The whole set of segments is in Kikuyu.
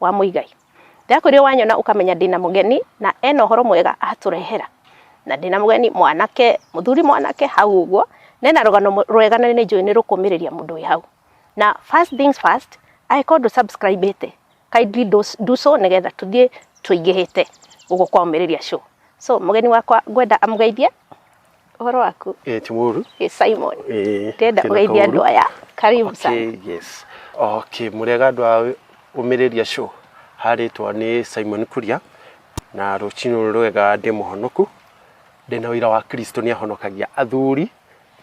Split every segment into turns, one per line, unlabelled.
wa Muigai. Ndakũrire wanyona ũkamenya ndĩna mũgeni na ena ũhoro mwega atũrehera. Na ndĩna mũgeni mwanake, mũthuri mwanake hau ũguo, nena rũgano rwega na nĩ njũĩ nĩ rũkũmĩrĩria mũndũ wĩ hau. Na first things first, angĩkorwo ndũ subscribe ĩte, kindly do, do so nĩgetha tũthiĩ tũingĩhĩte ũguo kwa ũmĩrĩria show. So mũgeni wakwa ngwenda amũgeithie Ũhoro waku? Eh, ti mũru. Ĩ
Simon. Eh,
Ndĩrenda kena ũgeithie kaũru. andũ aya. Karibu sana. Okay, yes.
Okay, mũrĩega andũ a ũmĩrĩria show. Harĩtwa nĩ Simon Kuria na rũcinĩ rwega ndĩ mũhonoku. Ndĩ na ũira wa Kristo nĩ ahonokagia athuri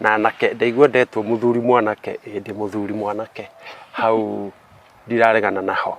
na anake. Ndaigua ndetwo mũthuri mwanake, ĩĩ ndĩ mũthuri mwanake. Hau ndiraregana naho.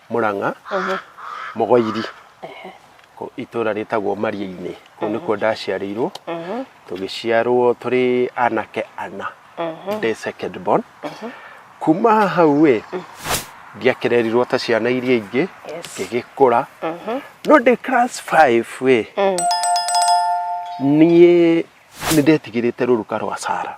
mũrang'a mũgoiri kũ- itũra rĩtagwo mariĩ-inĩ kũu nĩkuo ndaciarĩirwo tũgĩciarwo tũrĩ anake ana ndĩ second born kuma hau ĩ ndiakererirwo ta ciana iria ingĩ Yes. ngĩgĩkũra no ndĩ class 5 ĩ niĩ nĩ ndetigĩrĩte rũruka rwa sara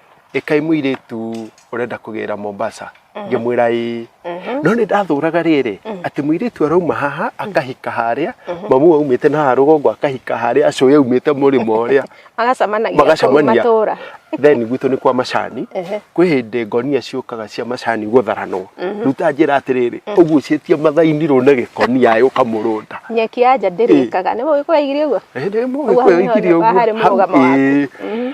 ĩkai mũirĩtu ũrenda kũgĩra Mombasa ngĩmwĩra ĩĩ no nĩ ndathũraga rĩrĩ atĩ mũirĩtu arauma haha akahika harĩa mamu aumĩte na haha rũgongo akahika harĩa acũĩ aumĩte mũrĩmo ũrĩa magacamanagia kũu magacemania
matũũra then gwitũ nĩ kwa
macani Ehe. kwĩ hĩndĩ ngonia ciũkaga cia macani gũtharanwo rĩu ta njĩra atĩrĩrĩ ũgucĩtie mathaini rũne gĩkonia ĩ ũkamũrũnda nyeki ya nja
ndĩrĩkaga nĩ mũgĩkũyũ aigire ũguo Ĩĩ, nĩ Ũguo mũgĩkũyũ haha
aigire nĩho ũguo. harĩ mũrũgamo Hau, waku. ĩĩ.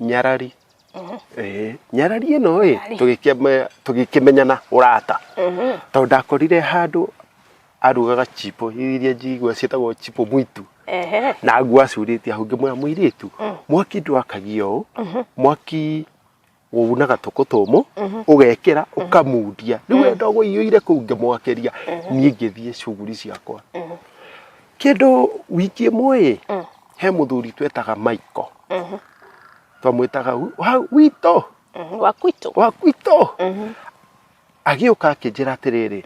nyarari Eh, nyarari ĩno ĩ Nyarari. tũgĩkĩme- tũgĩkĩmenyana ũrata tondũ ndakorire handũ arugaga chipo iria njigua ciĩtagwo chipo mwitu Ehe. na ngua acurĩtie hau ngĩmwĩra mũirĩtu mwaki ndwakagia ũũ mwaki wunaga tũkũ tũmũ ũgekĩra ũkamundia rĩu we ndogo iũire kũu ngĩmwakĩria niĩ ngĩthiĩ cuguri ciakwa kĩndũ wiki ĩmwe ĩ he muthuri twetaga Michael twamwĩtaga wi- wa witũ Mhm, wa kwitũ wa gwitũ agĩũka akĩnjĩra atĩrĩrĩ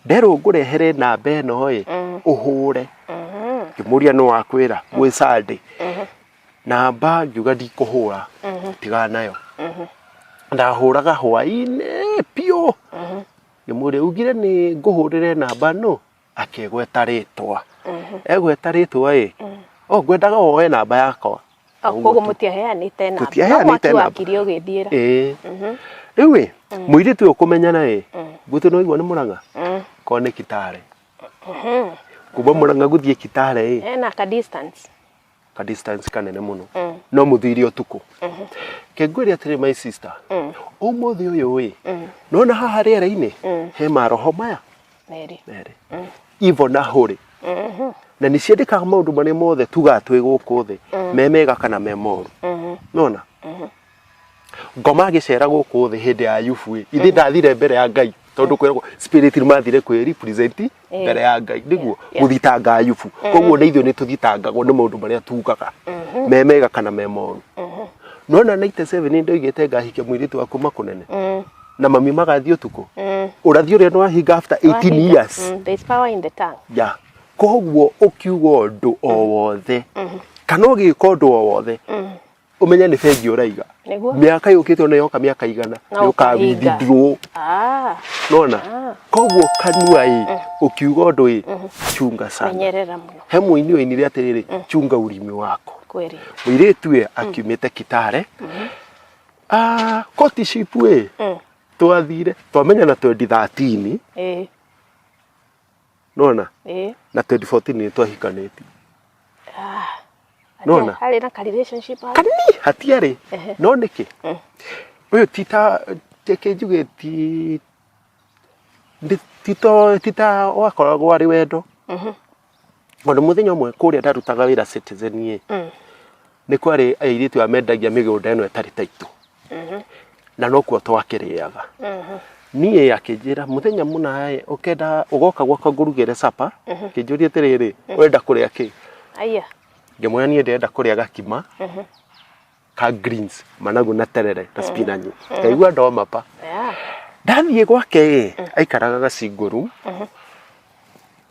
nderwo ngũrehere namba ĩno ĩ ũhũre ngĩmũria nĩ wakwĩra gwĩ sande namba ngiuga ndikũhũra tiga nayo ndahũraga hwainĩ biũ ngĩmũria ugire nĩ ngũhũrĩre namba nũ akĩgweta rĩtwa egweta rĩtwa ĩ o ngwendaga woe namba yakwa Ah, Ũguo koguo tu.
mũtiaheanĩte namba Tũtiaheanĩte No mwaki namba. wakire
ũgĩthiĩra ĩĩ rĩu ĩ mũirĩtu ũyũ kũmenyana ĩ gwitũ nĩ waigua nĩ mũrang'a Mm. korwo nĩ kitare kuma mũrang'a gũthiĩ kitare ĩ Eh, na ka distance
ka distance kanene muno no muthire utuku kengwire atiri my sister umuthi uyu wi nona haha riera-ini he maroho maya Meri. merĩ ivo na hũrĩ na nĩ ciandĩkaga maũndũ marĩa mothe tugaa twĩ gũkũ thĩ me mega kana me moru nona ngoma agĩcera gũkũ thĩ hĩndĩ ya ayubu ĩ ithe ndathire mbere ya ngai tondũ kwĩragwo spirit nĩ mathire kwĩ represent Eh. mbere ya ngai nĩguo Yeah. gũthitanga ayubu koguo nĩ ithuĩ nĩ tũthitangagwo nĩ maũndũ marĩa tugaga me mega kana me moru no na 97 nĩ ndoigĩte ngahike mũirĩtu wa kuma kũnene Mm, na mami magathiĩ ũtukũ mm, ũrathi ũrĩa nĩ wahinga after 18 wahinga. years Mm, there's power in the tongue. ya koguo
ũkiuga ũndũ o wothe kana ũgĩka ũndũ o wothe umenye nĩ bengi ũraiga Nĩguo. mĩaka yũkĩte ona yoka mĩaka igana Na ũkahinga. yũkawindidrwo Ah, nona Ah. koguo kanua ĩ ũkiuga ũndũ ĩ chunga sana menyerera mũno he mũini
ũinire atĩrĩrĩ
chunga ũrimi wako kweli. mũirĩtu
ĩ
akiumĩte kitare Ah, koti shipu ĩ Mm. twathire twamenya na 2013 Eh, nona eh na 2014 nĩ twahikanĩtie ah Nona? harĩ na ka relationship
hau. kanini hatiarĩ
Ehe. no nĩkĩ Mm. ũyũ tita reke njuge ti ndi- tito tita wakoragwo arĩ wendo Mhm. tondũ mũthenya ũmwe kũrĩa ndarutaga wĩra citizen-ĩ Mm. nĩ kwarĩ airĩtu amendagia mĩgũnda ĩno ĩtarĩ taitũ na nokuo twakĩrĩaga niĩ akĩnjĩra mũthenya mũna ĩ ũkenda ũgoka gwakwa ngũrugĩre capa kĩnjũria atĩrĩrĩ wenda kũrĩa kĩ Aya.
ngĩmwĩra niĩ
ndĩrenda kũrĩa gakima ka greens managu na terere na spinach ngaigua ndoma pa Yeah. ndathiĩ gwake ĩ aikaraga gacingũru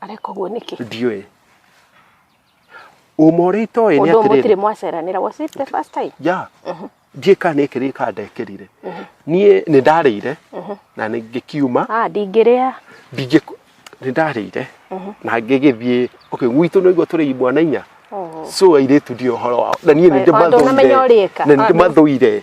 areka
ũguo nĩkĩ ndiũĩ
ũma ũrĩa itoĩ nĩ ũndũ mũtirĩ atĩrĩrĩ mwaceranĩra
was it the first time ya njĩka
nĩ kĩrĩ ka ndekĩrire niĩ nĩ ndarĩire na nĩ ngĩkiuma ah ndingĩrĩa
ndingĩ
nĩ ndarĩire na ngĩgĩthiĩ okay gwitũ nĩ guo tũrĩ mwana inya Oh. so airĩtu ndio ũhoro wao na niĩ nĩ Tondũ ndũnamenya ũrĩka. ndĩmathũire na nĩ Ah, ndĩmathũire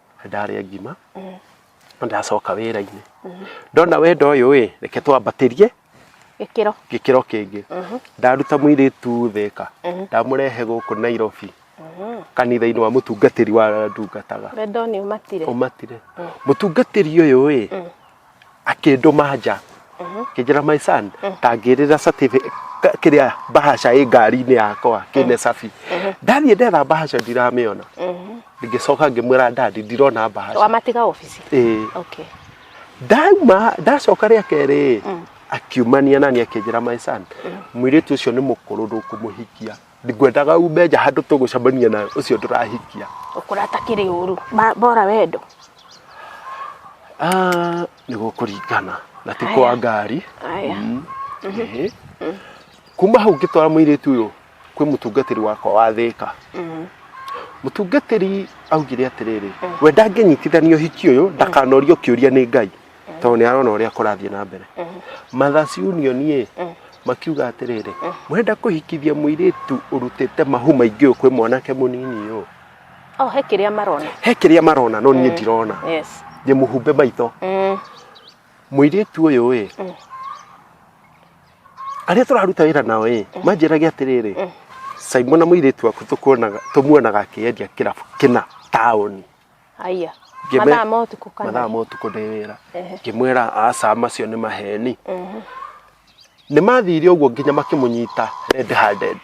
ndarĩa ngima
ndacoka wĩra-inĩ ndona wendo ũyũ ĩ reke twambatĩrie gĩkĩro gĩkĩro kĩngĩ ndaruta mũirĩtu thĩka ndamũrehe gũkũ nairobi kanitha-inĩ wa mũtungatĩri wa ndungataga wendo nĩ ũmatire
ũmatire
mũtungatĩri ũyũ ĩ akĩndũma nja kĩnjĩra my son tangĩrĩra certificate ka- kĩrĩa bahasha ĩ ngari-inĩ yakwa kĩne cabi ndathiĩ ndetha bahasha ndiramĩona ngĩcoka ngĩmwĩra ndandi ndirona bahasha wamatiga obici
Ĩĩ. okay
ndauma ndacoka rĩa kerĩ akiumania nani akĩnjĩra my son mũirĩtu ũcio nĩ mũkũrũ ndũkũmũhikia ngwendaga ume nja handũ tũgũcemania na ũcio ndũrahikia ũkũra atakĩrĩ
ũru Ma- bora wendo Ah,
nĩ gũkũringana na ti kwa ngari Aya. Mm. Ĩhĩ. kuma hau ngĩtwara mũirĩtu ũyũ kwĩ mũtungatĩri wakwa wa thĩka Mhm. mũtungatĩri augire atĩrĩrĩ we ndangĩnyitithanio hiki ũyũ ndakanorio kĩũria nĩ ngai tondũ nĩ arona ũrĩa kũrathiĩ na mbere Mothers Union ĩ makiuga atĩrĩrĩ mũrenda kũhikithia mũirĩtu ũrutĩte mahu maingĩ ũyũ kwĩ mwanake mũnini ũyũ Oh, he kĩrĩa marona. he kĩrĩa marona no niĩ ndirona Yes. nĩ mũhumbe maitho Mm. mũirĩtu ũyũ ĩ arĩa tũraruta wĩra nao ĩ manjĩrage atĩrĩrĩ Simon na mũirĩtu waku tũkuonaga- tũmuonaga akĩendia kĩrabu kĩna taũni Haya.
Ngĩme- Mathaa ma ũtukũ kana. mathaa ma ũtukũ ndĩ wĩra
Ehe. ngĩmwĩra aca macio nĩ maheni Mhm. nĩ mathire ũguo nginya makĩmũnyita red handed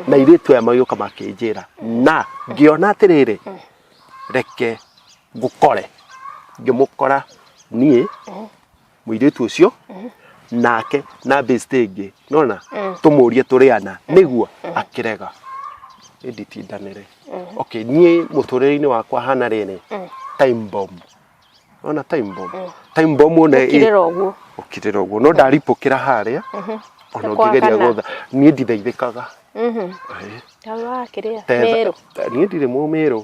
na irĩtu aya magĩũka makĩnjĩra na ngĩona atĩrĩrĩ reke ngũkore ngĩmũkora niĩ mũirĩtu ũcio nake na bĩcitĩ ĩngĩ nona tũmũrie tũrĩ ana nĩguo akĩrega ĩnditindanĩre okay niĩ mũtũrĩre-inĩ wakwa hana rĩrĩ time bomb ona time bomb time bomb ona ĩ- kirira uguo ũkirĩra ũguo no ndaripũkĩra harĩa ona Kwa ũngĩgeria kana. gũtha niĩ ndithaithĩkaga Ĩĩ. tawa kiria Tetha- meru niĩ ndirĩ mũmĩrũ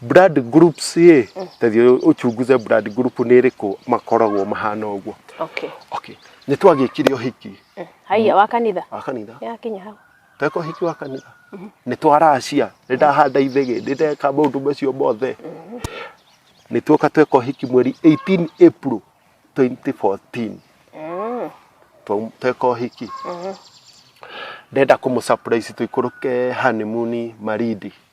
blood groups ĩ tathiĩ ũchunguze blood group nĩ ĩrĩkũ makoragwo mahana ũguo okay okay nĩ twagĩkire ũhiki Mm. haiya wa kanitha
wa kanitha yakinya
hau tweka ũhiki wa kanitha nĩ twaracia nĩ ndahanda ithĩgĩ nĩ ndeka maũndũ macio mothe nĩ tuoka tweka ũhiki mweri 18 April 2014 Mm. Twa- tweka ũhiki ndenda kũmũ surprise tũikũrũke honeymoon marindi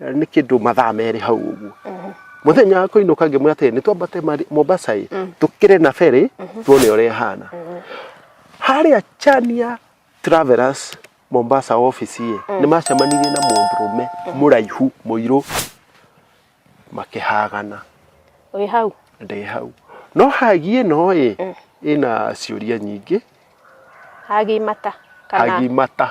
nĩ kĩndũ mathaa merĩ hau ũguo mũthenya wa kũinũka ngĩmwĩra atĩrĩ nĩ twambate Mari- mombasa ĩ tũkĩre na ferĩ tuone ũrĩa ĩhana harĩa chania travelers mombasa office ĩ nĩ macemanirie na mũndũrũme mũraihu mũirũ makĩhagana wĩ hau
ndĩ hau
no hagi ĩno ĩ ĩna ciũria nyingĩ
hagimata kana hagi mata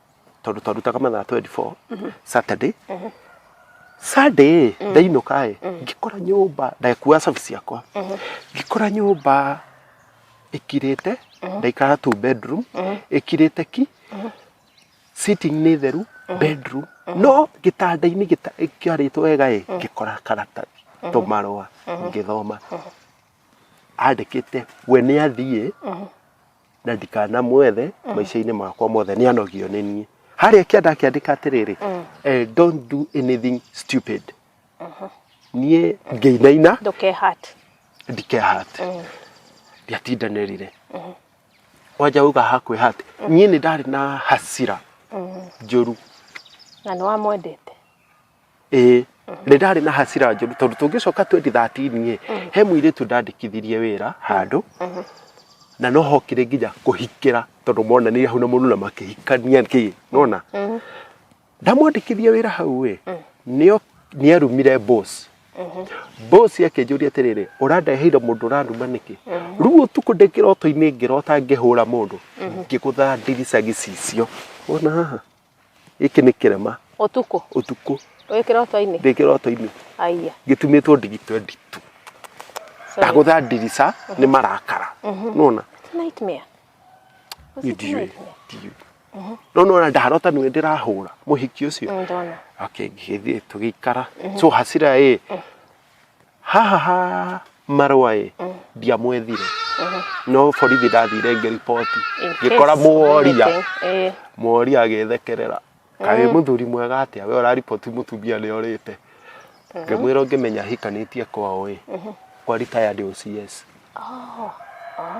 tondå twarutaga mathaa 24 saturday sunday ndainũka ĩ ngĩkora nyũmba ndakua cabi ciakwa ngĩkora nyũmba ĩkirĩte ndaikara tu bedroom ĩkirĩte ki sitting nĩ theru bedroom no gĩtanda-inĩ gĩta- kĩarĩtwo wega ĩ ngĩkora karatathi tũmarũa ngĩthoma andĩkĩte we nĩ athiĩ na ndikanamwethe maica-inĩ makwa mothe nĩ anogio nĩ niĩ harĩa kĩanda akĩandĩka atĩrĩrĩ eh, don't do anything stupid niĩ ngĩinaina ndũkehate ndikehate ndiatindanĩrire wanja uga hakwĩhate niĩ nĩ ndarĩ na hasira njũru na
nĩ wamwendete ĩĩ
nĩ ndarĩ na hasira njũru tondũ tũngĩcoka 2013 ĩ he mũirĩtu ndandĩkithirie wĩra handũ na no hokire nginya kũhikĩra tondũ monanire hau na mũndũ na makĩhikania kĩ nona ndamwandĩkithia wĩra hau ĩ nĩo nĩarumire boss boss akĩnjũria atĩrĩrĩ ũrandeheire mũndũ ũranuma nĩkĩ rĩu ũtukũ ndĩ kĩroto-inĩ ngĩrota ngĩhũra mũndũ ngĩgũtha ndirica gĩcicio wona haha gĩkĩ nĩ kĩrema ũtukũ ũtukũ
wĩ
kĩroto-inĩ
ndĩ kĩroto-inĩ aiya
gĩtumĩtwo
ndigi 22
sorry. ndagũtha ndirica nĩ marakara nona It's a nightmare
Was it
a ndiũĩ nightmare? ndiũĩ no nona ndarota nĩwe ndĩrahũra mũhiki ũcio Mm, ndona okay
ngĩgĩthiĩ
tũgĩikara so hasira ĩ hahaha marũa ĩ ndiamwethire no borithi ndathire ngĩriboti In case ngĩkora mũworia anything, eh. mũworia agĩthekerera kaĩ mũthuri mwega atĩa we ũrariboti mũtumia nĩ orĩte ngĩmwĩra ũngĩmenya hikanĩtie kwao ĩ kwa retired OCS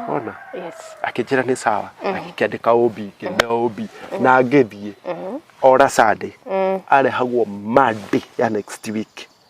ona Yes.
akĩnjĩra nĩ sawa
akĩandĩka ũmbi ngĩmea ũmbi na ngĩthiĩ ora Sunday arehagwo Monday ya next week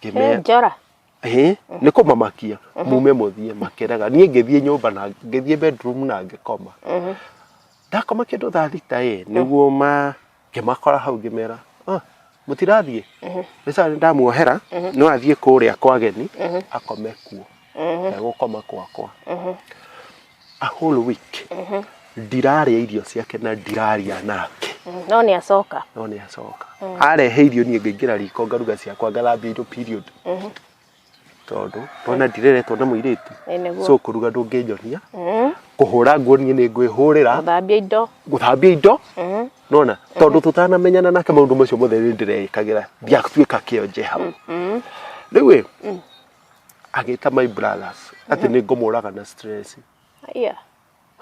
He Ngĩmera- njora.
Hĩ, nĩ
kũmamakia mume mũthiĩ makĩraga niĩ ngĩthiĩ nyũmba na ngĩthiĩ bedroom na ngĩkoma ndakoma kĩndũ thaa thita ĩ nĩguo ma ngĩmakora hau ngĩmera "Ah, mũtirathiĩ nĩ sawa nĩ ndamuohera no athiĩ kũrĩa kwa ageni akome kuo na gũkoma kwakwa a whole week ndirarĩa irio ciake na ndiraria nake no nĩ acoka
no nĩ acoka
arehe irio niĩ ngaingĩra riko ngaruga ciakwa ngathambia indo period tondũ ndona ndireretwo na mũirĩtu Ĩ nĩguo. so kũruga ndũngĩnyonia kũhũra nguo niĩ nĩ ngwĩhũrĩra thambia indo gũthambia indo nona tondũ tũtanamenyana nake maũndũ macio mothe nĩ ndĩreĩkagĩra ndiatuĩka kĩonje hau rĩu ĩ agĩta my brothers atĩ nĩ
ngũmũraga
na stress Aya.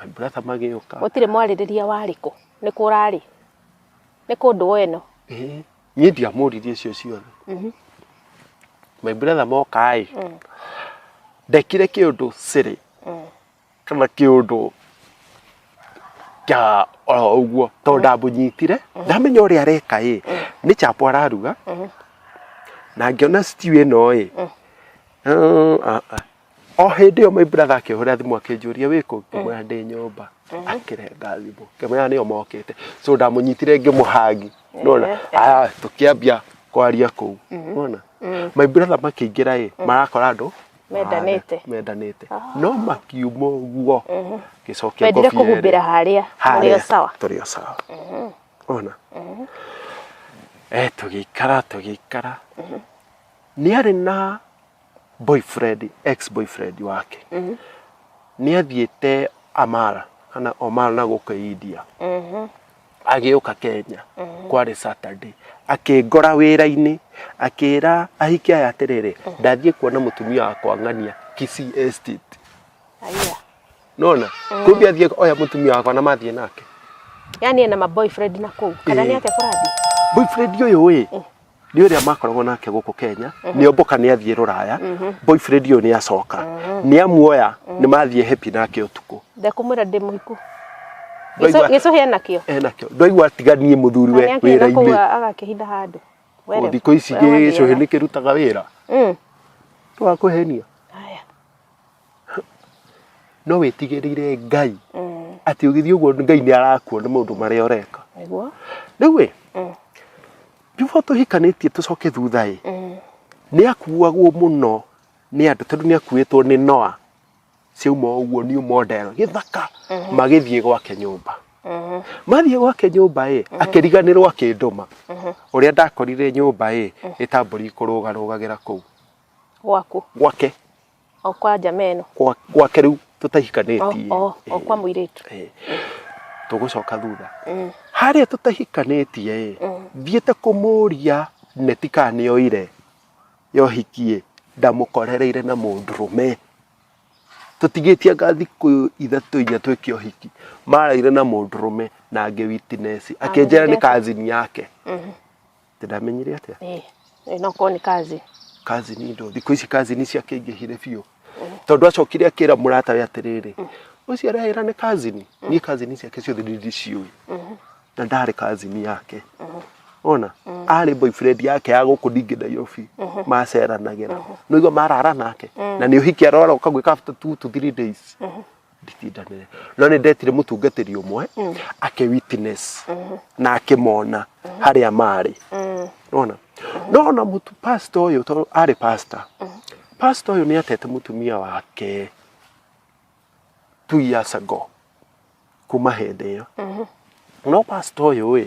my brother magĩũka Gũtirĩ mwarĩrĩria
warĩ kũ. Nĩ kũ ũrarĩ. Nĩ kũ ndũũ ĩno. Eh, niĩ
ndiamũririe icio ciothe my brother moka-ĩ ndekire kĩũndũ sĩrĩ kana kä å ndå kĩa oro ũguo tondũ ndamũnyitire ndamenya ũrĩa areka ĩ nĩ chapo araruga na ngĩona stew ĩno ĩ eh, ah, ah. o hĩndĩ ĩyo my brother akĩhũra thimũ akĩnjũria wĩ kũ ngĩmwĩra ndĩ nyũmba akĩrenga thimũ ngĩmwĩra nĩo mokĩte so ndamũnyitire ngĩmũhangi nona aya tũkĩambia kwaria kũu nona my brother makĩingĩra ĩ marakora andũ Mendanĩte. Ana, mendanĩte no makiuma ũguo gĩcokia Wendire ngobia ĩrĩ. kũhumbĩra
harĩa harĩa mũrĩo sawa. tũrĩ o sawa ona
eh tũgĩikara tũgĩikara nĩ arĩ na boyfriend ex boyfriend wake nĩ athiĩte amara kana omara na gũkũ india agĩũka kenya kwarĩ saturday akĩngora wĩra-inĩ akĩra ahiki aya atĩrĩrĩ ndathiĩ kuona mũtumia wakwa ng'ania Kisii estate Aya. nona kumbe athiĩ oya mũtumia wakwa na mathiĩ nake Yaani ena
maboyfriend na kũu. Kana nĩ Eh. ake kũrathiĩ? boyfriend ũyũ
ĩ nĩ ũrĩa makoragwo nake gũkũ kenya nĩ omboka nĩ athiĩ rũraya boyfriend ũyũ nĩ acoka nĩ amuoya nĩ mathiĩ hepi nake ũtukũ ndekũmwĩra ndĩ mũhiku
Ndaigua- gĩcũhĩ enakĩo enakĩo ndwaigua atiganie
mũthuriwe Nĩ akĩenda wĩra-inĩ kũu agakĩhitha handũ
Were, Ũũ thikũ ici
were gĩcũhĩ wathiaga. nĩ kĩrutaga wĩra Mm. twakũhenia Haya. no wĩtigĩrĩre ngai Mm. atĩ ũgĩthiĩ ũguo ngai nĩ arakuona maũndũ marĩa ũreka Nĩguo. rĩu ĩ Mm. before tũhikanĩtie tũcoke thutha ĩ Mm. nĩ akuagwo mũno nĩ andũ tondũ nĩ akuĩtwo nĩ noa ciauma ũguo new model gĩthaka magĩthiĩ gwake nyũmba Mhm. mathiĩ gwake nyũmba ĩ akĩriganĩrwo akĩndũma ũrĩa ndakorire nyũmba ĩ ĩtambũri kũrũgarũgagĩra kũu Gwaku. gwake o
kwa njama ĩno Gwa- gwake rĩu
o, tũtahikanĩtie o, o kwa mũirĩtu
Eh, tũgũcoka
thutha Mm, harĩa tũtahikanĩtie ĩ mm. thiĩte kũmũria neti kana nĩ oire yohikie ndamũkorereire na mũndũrũme tũtigĩtie anga thikũ ithatũ inya twĩke ũhiki maraire na mũndũrũme na angĩ witinesi akĩnjĩra nĩ Amũrĩte. kazini yake Mhm. Ati ndamenyire atia? Eh, eh, no korwo nĩ
kazi Kazi ni ndo
thikũ ici kazi ni ciakĩingĩhire biũ. Tondũ acokire akĩra mũrata we atĩrĩrĩ, ũcio arahĩra nĩ kazi ni. Niĩ kazi ni ciake ciothe nĩ ndiciũĩ. Na ndarĩ kazi ni yake. Ona arĩ boyfriend yake ya gũkũ ndingĩ Nairobi maceranagĩra. Nĩguo marara nake. Na nĩ ũhiki arora ũkagwĩka after two to three days. nditindanĩre no nĩ ndetire mũtungatĩri ũmwe ake witness na akĩmona harĩa marĩ nona nona mũtu pasta ũyũ tondũ arĩ pasta pasta ũyũ nĩ atete mũtumia wake two years ago kuma hĩndĩ ĩyo no pasta ũyũ ĩ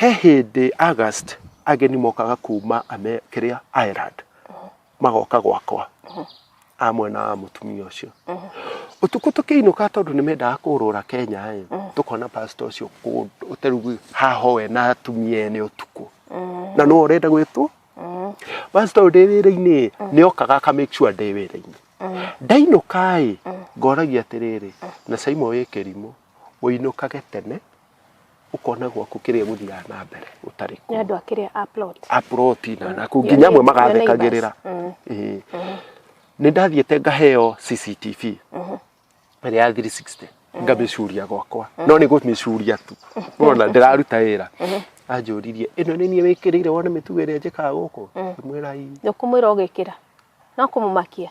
He hĩndĩ August ageni mokaga kuma ame kĩrĩa Ireland magoka gwakwa a mwena wa mũtumia ũcio ũtukũ tũkĩinũka tondũ nĩ mendaga kũrũra Kenya ĩ tũkona pastor ũcio kũ- ũterugu haho we na atumia ene ũtukũ na no ũrenda gwĩtwo pastor ũyũ ndĩ wĩra-inĩ ĩ nĩ okaga aka make sure ndĩ wĩra-inĩ ndainũka ĩ ngoragia atĩrĩrĩ na Simon wĩ kĩrimũ ũinũkage tene ũkona gwaku kĩrĩa gũthiaga na mbere gũtarĩ nĩ andũ a kĩrĩa a
plot aproti
na na kũu nginya amwe magathekagĩrĩra Ĩĩ. nĩ ndathiĩte ngaheo cctv ĩrĩa ya 360 ngamĩcuria gwakwa no nĩ gũmĩcuria tu wona ndĩraruta wĩra anjũririe ĩno nĩ niĩ wĩkĩrĩire wone mĩtugo ĩrĩa njĩkaga gũkũ ngĩmwĩra ii nĩũkũmwĩra
ũgĩkĩra no kũmũmakia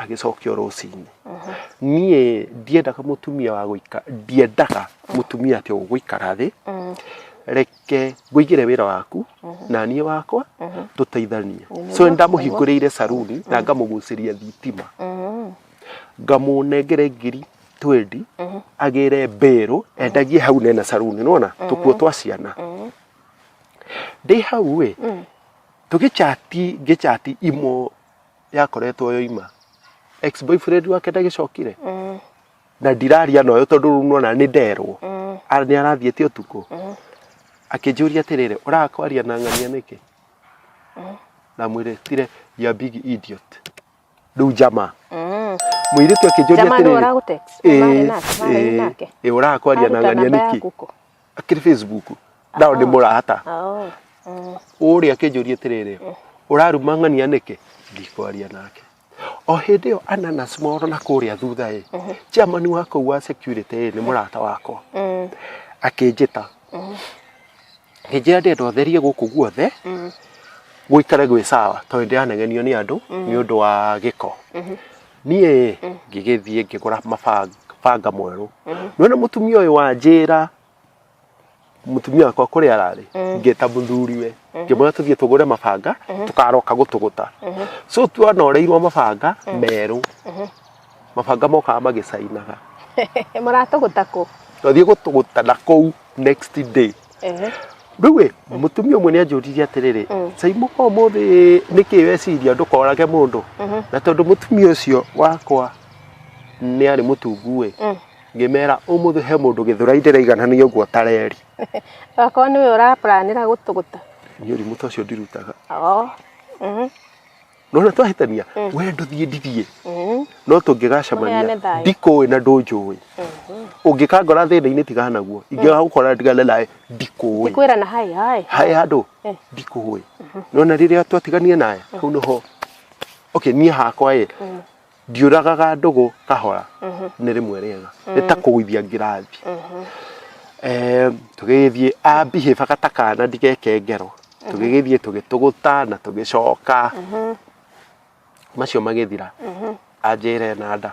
agĩcokio rũcinĩ niĩ ndiendaga mũtumia wa gũika ndiendaga mũtumia atĩ ũgũikara thĩ reke ngũigĩre wĩra waku na niĩ wakwa tũteithanie Nĩ so nĩ ndamũhingũrĩire saruni na ngamũgucĩria thitima ngamũnengere ngiri twendi agĩre mbĩrũ endagie hau nena saruni nona tũkuo twa ciana ndĩ hau ĩ tũgĩchati ngĩchati imo yakoretwo yoima ex boyfriend wake ndagĩcokire Mm. na ndiraria noyo tondũ rĩu nona nĩ nderwo Mm. Ara- nĩ arathiĩte ũtukũ Mm. akĩnjũria atĩrĩrĩ ũrakwaria na ng'ania nĩkĩ na mwĩrĩtire ya big idiot rĩu jamaa Mm. mũirĩtu akĩnjũria Jamaa nĩwe atĩrĩrĩ ũragũtext? "Ĩ, Marĩ
nake, marĩ ĩ, nake?" ĩ, ũrakwaria
na Aruta ng'ania namba nĩkĩ yaku kũ? akiri facebook ndao ndi murata Oh. Mm. uria akinjuria atiriri uraruma ng'ania niki ndikwaria nake o hindi yo ananas moro na kuria thutha i chairman wa kuu wa security ĩ, nĩ murata wakwa Mm. akinjita nginjira ndenda ũtherie gũkũ guothe Mm. gũikare gwĩ sawa tondũ ndĩranengenio nĩ andũ nĩ ũndũ wa gĩko niĩ ngĩgĩthiĩ ngĩgũra mabanga banga mwerũ nĩwona mũtumia ũyũ wanjĩra mũtumia wakwa kũrĩa ararĩ ngĩta mũthuriwe ngĩmwĩra tũthiĩ tũgũre mabanga tũkaroka gũtũgũta so twanoreirwo mabanga merũ mabanga mokaga magĩcainaga maratũgũta
kũ twathiĩ gũtũgũta
na kũu next day Ehe. rĩu ĩ mũtumia ũmwe nĩ anjũririe atĩrĩrĩ Mm. caimũ kwa ũmũthĩ nĩkĩ weciria ndũkorage mũndũ Mhm. na tondũ mũtumia ũcio wakwa nĩ arĩ mũtungu ĩ Mm. ngĩmera ũmũthĩ he mũndũ gĩthũrai ndĩraiganania ũguo tareri Okorwo
nĩwe ũrapuranĩra gũtũgũta. niĩ ũrimũ ta ũcio
ndirutaga Oo. Mhm. no na twahĩtania we ndũthiĩ ndithiĩ Mm. no Mũheane tũngĩgacemania thayũ. ndikũĩ na ndũnjũĩ ũngĩkangora thĩna-inĩ tigana naguo ingĩgagũkora ndigane nawe ndikũĩ Ndikwĩra na hai hai.
hae handũ Eh.
ndikũĩ no na rĩrĩa twatiganire nawe hau nĩho okay niĩ hakwa ĩ ndiũragaga ndũgũ kahora mhm. nĩ rĩmwe rĩega nĩ ta mm. kũgũithia ngirathi mhm. eh, tũgĩgĩthiĩ ambihĩba gata kana ndigeke ngero mhm. tũgĩgĩthiĩ tũgĩtũgũta na tũgĩcoka macio magĩthira anjĩre na nda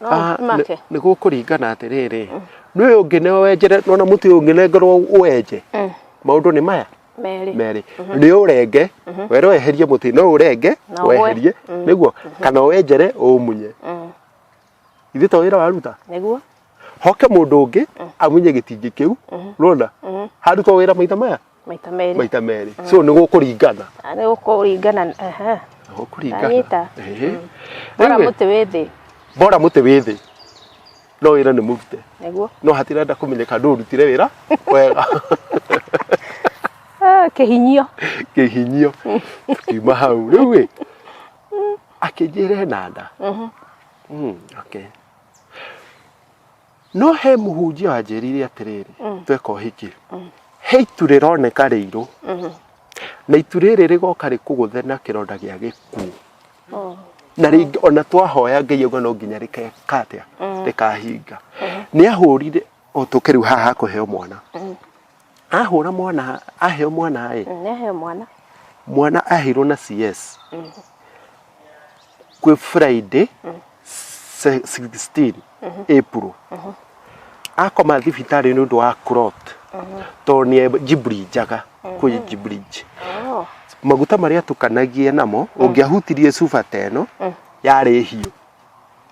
No Ah, make.
nĩ- nĩ gũkũringana atĩrĩrĩ nĩ ũyũ ũngĩ nĩ wenjere nona mũtĩ ũyũ ũngĩ nengerwo ũwenje maũndũ nĩ maya Merĩ. merĩ nĩ ũrenge were weherie mũtĩ no ũrenge Na ũgwe. weherie nĩguo kana wenjere ũmunye ithuĩ to wĩra waruta Nĩguo.
hoke mũndũ
ũngĩ amunye gĩtingĩ kĩu rona harutwo wĩra maitha maya maita merĩ maita merĩ so nĩ gũkũringana Ah, nĩ gũkũringana ehe. Nĩ
gũkũringana Ndanyita. Ehe. bora Rĩu-ĩ, mũtĩ wĩ
thĩ bora mũtĩ wĩ thĩ no wĩra nĩ mũrute nĩguo no hatirenda
kũmenyeka
ndũ ũrutire wĩra wega Ah,
kĩhinyio kĩhinyio tukiuma
hau rĩu ĩ akĩnjĩra ena nda Mm, okay. no he mũhunjia wanjĩrire atĩrĩrĩ mm. tweka ũhiki mm. he itu rĩroneka rĩirũ mm-hmm. na itu rĩrĩ rĩgoka rĩkũgũthe na kĩronda gĩa gĩkuũ oh. na rĩngĩ ona twahoya ngai auga no nginya rĩkeka atĩa mm. rĩkahinga mm-hmm. nĩ ahũrire o tũkĩrĩu haha kũheo mwana mm-hmm. ahũra mwana aheo mwana ĩ Mm, nĩaheo mwana mwana aheirwo na cs kwĩ friday se- 16 april akoma thibitarĩ nĩ ũndũ wa crot tondũ nĩ jibri njaga kwĩ jibri Oh, maguta marĩa tukanagie namo ũngĩahutirie cuba ta ĩno yarĩ hiũ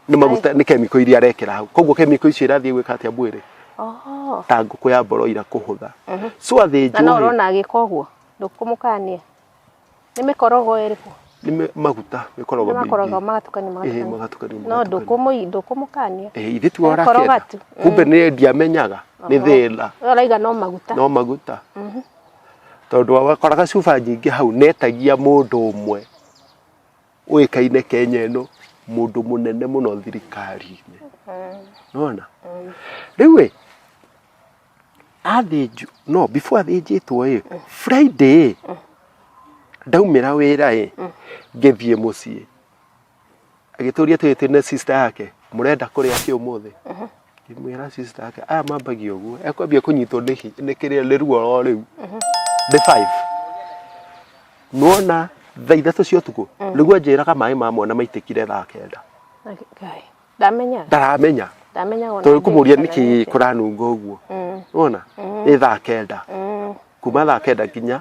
nä maguta nä kemiko iria arekera hau koguo kemiko icio irathiä gwä ka atä a mwä Oh. ta ngå kå ya mboro ira kå hå tha so athä Na no njå ũrona agĩka ũguo
ndũkũmũkania nĩ mĩkorogo ĩrĩkũ nä maguta
mä koragwo nĩ makorogo magatukania magatukania
magatukania no magatukania. ndũkũmũ- ndũkũmũkania Eh, ithe tiwe Gakoro
ũrakenda gatu. kumbe nä ndiamenyaga nä thä Ũyũ arauga no maguta
no maguta
tondå wakoraga cuba nyingä hau netagia må ndå å mwe ũĩkaine kenya ĩno mũndũ mũnene mũno thirikari-inĩ nona rĩu ĩ athĩnjwo no before athĩnjĩtwo ĩ friday ĩ ndaumĩra wĩra ĩ ngĩthiĩ mũciĩ agĩtũria tũrĩ twĩna sister yake mũrenda kũrĩa kĩ ũmũthĩ ngĩmwĩra sister yake aya mambagia ũguo ekwambia kũnyitwo nĩ hi- nĩ kĩrĩa nĩ ruo ro rĩu ndĩ five nuona thaa ithatũ cia ũtukũ nĩguo anjĩraga maĩ ma mwana maitĩkire thaa kenda Ngai. Ndamenya. ndaramenya Ndamenya ona. tondũ kũmũria ndĩ- nĩkĩ kũranunga ũguo Mm. nuona nĩ thaa kenda Mm. kuma thaa kenda nginya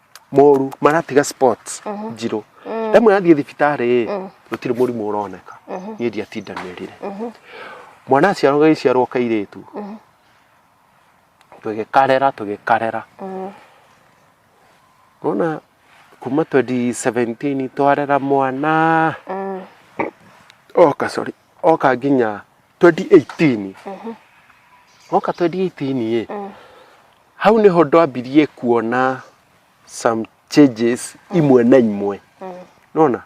moru maratiga sports njirũ ndamwĩra thiĩ thibitarĩ ĩ gũtirĩ mũrimũ ũroneka niĩ ndiatindanĩrire mwana aciarwo gagĩciarwo kairĩtu tũgĩkarera tũgĩkarera nona kuma 2017 twarera mwana oka sorry oka nginya 2018 woka 2018 ĩ hau nĩho ndwambirie kuona some changes imwe na imwe nona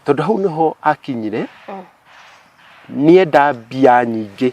tondũ hau nĩho akinyire nienda mbia nyingĩ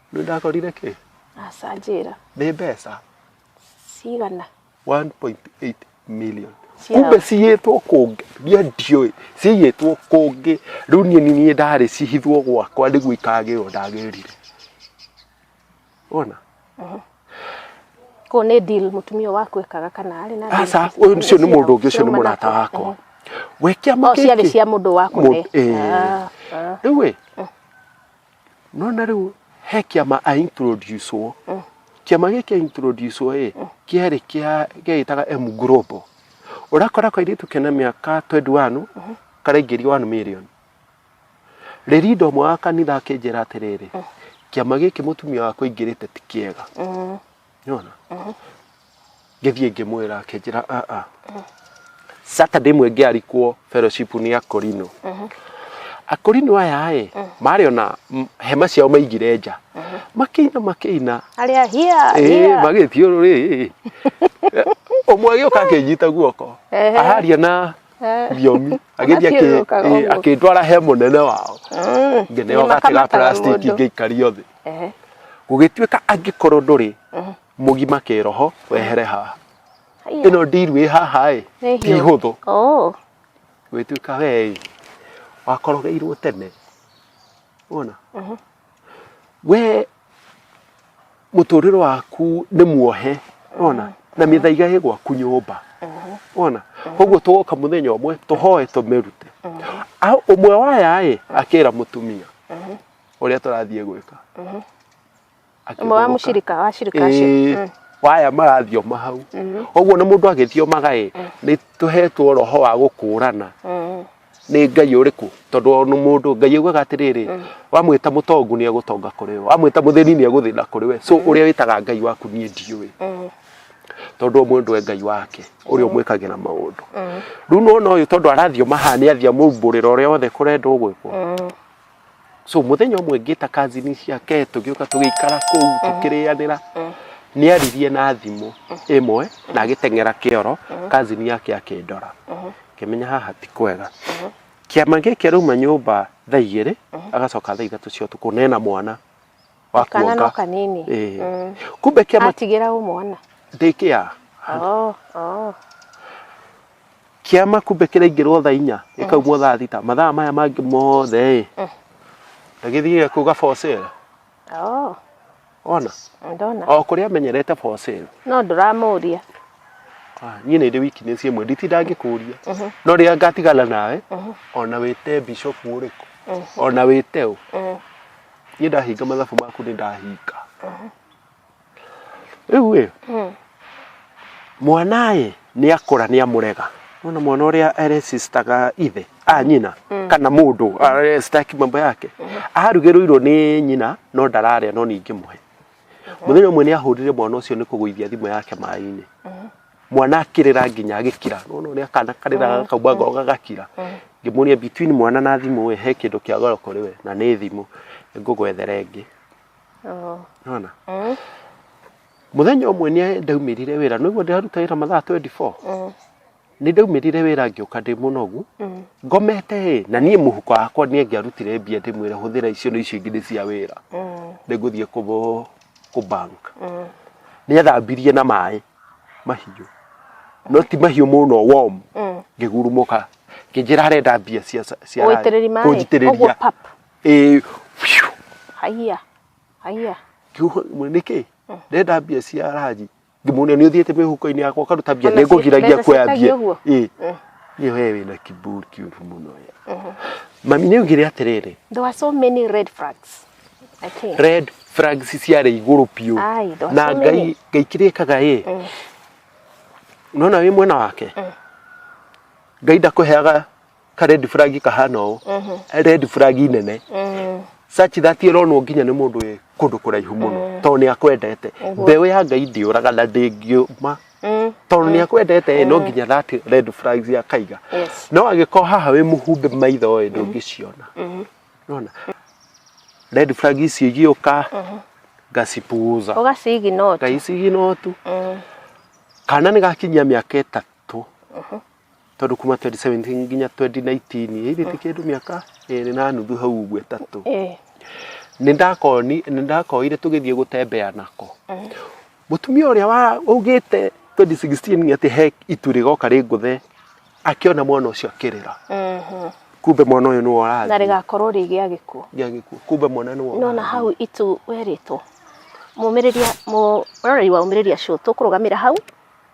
Nĩ ndakorire kĩ? Aca njĩra.
Nĩ mbeca.
Cigana.
1.8
million. Kumbe ciyĩtwo kũngĩ. Niĩ ndiũĩ. Ciyĩtwo kũngĩ. Rĩu niĩ niĩ ndarĩ cihithwo gwakwa nĩguo ikagĩrwo ndagĩrire. Ona. Mhm.
Kũu nĩ deal mũtumia waku ekaga kana arĩ na. Aca, ũyũ ũcio nĩ mũndũ
ũngĩ ũcio nĩ mũrata wakwa. Mhm. We kĩama kĩkĩ. Ciarĩ cia mũndũ waku.
Eh. Ah, ah.
Rĩu ĩ. Eh. no na rĩu he kĩama a introduce wo mm. kĩama gĩkĩ a introduce wo ĩ mm. kĩarĩ kĩa gĩgĩtaga M Global ũrakora kwa iritũ kena mĩaka 21 mm-hmm. karaingĩria 1 million rĩrĩa indo mwa kanitha akĩnjĩra atĩrĩrĩ mm. kĩama gĩkĩ mũtumia wakwa ingĩrĩte ti kĩega nĩwona ngĩthiĩ ngĩmwĩra akĩnjĩra aa saturday ĩmwe ngĩarikwo fellowship nĩ akorino akorino aya ĩ marĩ ona m- hema ciao maigire nja makĩina makĩina arĩa hia
Ĩĩ, hia magĩthiũrũrĩ
ũmwe agĩũka akĩnyita guoko Ehe. aharia na Eh. thiomi agĩthiĩ akĩ- Agathiũrũrũkaga ĩĩ, ũguo. akĩndwara he mũnene wao Mm, ngĩneoga nĩmakamataga tiga plastic mũndũ. ngĩikario thĩ Ehe. gũgĩtuĩka angĩkorwo ndũrĩ mũgima kĩroho wehere haha Haiya. ĩno ndiru ĩ haha ĩ Nĩ ti hiũ. hũthũ Oh. gwĩtuĩka wee ĩ wakorogeirwo tene wona we mũtũrĩre waku nĩ muohe wona na mĩthaiga ĩ gwaku nyũmba wona koguo tũgoka mũthenya ũmwe tũhoe tũmĩrute A- ũmwe waya ĩ akĩra mũtumia ũrĩa tũrathiĩ gwĩka ũmwe
wa Akĩhũgũka. mũcirika wa cirika Ĩĩ, acio Mm. waya marathioma
hau ũguo na mũndũ agĩthiomaga ĩ nĩ tũhetwo roho wa gũkũrana Mm. nĩ ngai ũrĩkũ tondũ o nĩ mũndũ ngai augaga atĩrĩrĩ wamwĩta mũtongu nĩ egũtonga kũrĩ we wamwĩta mũthĩni nĩ egũthĩna kũrĩ we so ũrĩa wĩtaga ngai waku niĩ ndiũĩ Mm. tondũ ũmwe ndwe ngai wake ũrĩa ũmwĩkagĩra maũndũ rĩu nona ũyũ tondũ arathioma haha nĩ athiamũmbũrĩra ũrĩa wothe kũrendwo gwĩkwo Mm. so muthenya ũmwe ngĩta kazini ciake tũgĩũka tũgĩikara kũu tũkĩrĩanĩra nĩ aririe na thimũ ĩmwe na agĩteng'era kĩoro kazini yake akĩndora ngĩmenya haha ti kwega kĩama gĩkĩ arauma nyũmba thaa igĩrĩ agacoka thaa ithatũ cia ũtukũ na ena mwana wa kana no kuonga
kanini Ĩĩ. Mm. kumbe
kĩama atigĩra ũmwana
ndĩkĩa oh, oh.
kĩama kumbe kĩraingĩrwo thaa inya gĩkaumwo thaa thita mathaa maya mangĩ mothe ĩ na gĩthiĩ kuga for sale oh. ona ndona o kũrĩa amenyerete for sale no
ndũramũria
Ah, niĩ nĩ ndĩ wiki nĩ ciĩmwe nditinda ngĩkũria no rĩrĩa ngatigana nawe ona wĩte bishopu ũrĩkũ ona wĩte ũ niĩ ndahinga mathabu maku nĩ ndahinga rĩu ĩ Mm. mwana ĩ nĩ akũra nĩ amũrega nona mwana ũrĩa aresistaga ithe a nyina kana mũndũ aresitaki mambo yake arugĩrũirwo nĩ nyina no ndararĩa no ningĩ mũhe mũthenya ũmwe nĩ ahũrire mwana ũcio nĩ kũgũithia thimũ yake maĩ-inĩ mwana akĩrĩra nginya agĩkira nona ũrĩa kana karĩraga mm. kaumba ngoro gagakira mm. ngĩmũria between mwana na thimũ we he kĩndũ kĩa goro kũrĩ we na nĩ thimũ ngũgwethere ĩngĩ oh. nona mm. mũthenya ũmwe nĩ ndaumĩrire wĩra nĩguo ndĩraruta wĩra mathaa 24 nĩ ndaumĩrire wĩra ngĩũka ndĩ mũnogu ngomete ĩ na niĩ mũhuko wakwa nĩ ngĩarutire mbia ndĩmwĩre hũthĩra icio nĩ icio ingĩ nĩ cia wĩra nĩ ngũthiĩ kũ bank nĩ ethambirie na maĩ mahiũ no ti mahiũ mũno warm Mm. ngĩgurumũka ngĩnjĩra arenda mbia cia cia Ũgũitĩrĩri maĩ? Ũguo kũnjitĩrĩria pap. ĩĩ phew.
Haiya. Haiya. Kiugo- mwe-
nĩkĩ ndenda mbia cia ranji ngĩmuonia nĩ ũthiĩte mĩhuko-inĩ yakwa ũkaruta mbia Ona nĩ ci- ngũgiragia mbeca kuoya ciĩtagio mbia ũguo? ĩĩ Mm. niĩ we wĩna kiburi kĩũru mũno we mami nĩ augire atĩrĩrĩ There were so many
red flags. Okay. red flags
ciarĩ igũrũ biũ Ai, those na so ngai many. ngai kĩrĩa ĩkaga ĩ Mm. unaona wĩ mwena wake Mm. ngai ndakũheaga ka red flag kahana ũũ Mhm. red flag nene Mm. sachi thati ĩronwo nginya nĩ mũndũ wĩ kũndũ kũraihu mũno tondũ nĩ akwendete Ũguo. mbeũ ya ngai ndĩũraga na ndĩngiũma Mm. tondũ nĩ akwendete ĩ no nginya thati red flags akaiga Yes. no agĩkorwo haha wĩ mũhumbe maitho ĩ ndũngĩciona Mhm. nona red flag icio igĩũka ngacipuuza ũgacigi no ngaicigi notu kana nĩ gakinyia mĩaka ĩtatũ tondũ kuma 2017 nginya 2019 ĩirĩte kĩndũ mĩaka ĩrĩ na nuthu hau ũguo ĩtatũ nĩ ndakoni nĩ ndakoire tũgĩthiĩ gũtembea nako Mũtumia ũrĩa wa- ũgĩte 2016 atĩ he itu rĩgoka rĩngũthe akĩona mwana ũcio akĩrĩra Mhm. kumbe mwana ũyũ nĩwe na ũrathiĩ rĩgakorwo rĩ gĩa
gĩkuũ gĩa gĩkuũ kumbe mwana nĩwe no na
ũrathiĩ. hau itu
werĩtwo mũmĩrĩria mũroreri wa umĩrĩria show tũkũrũgamĩra hau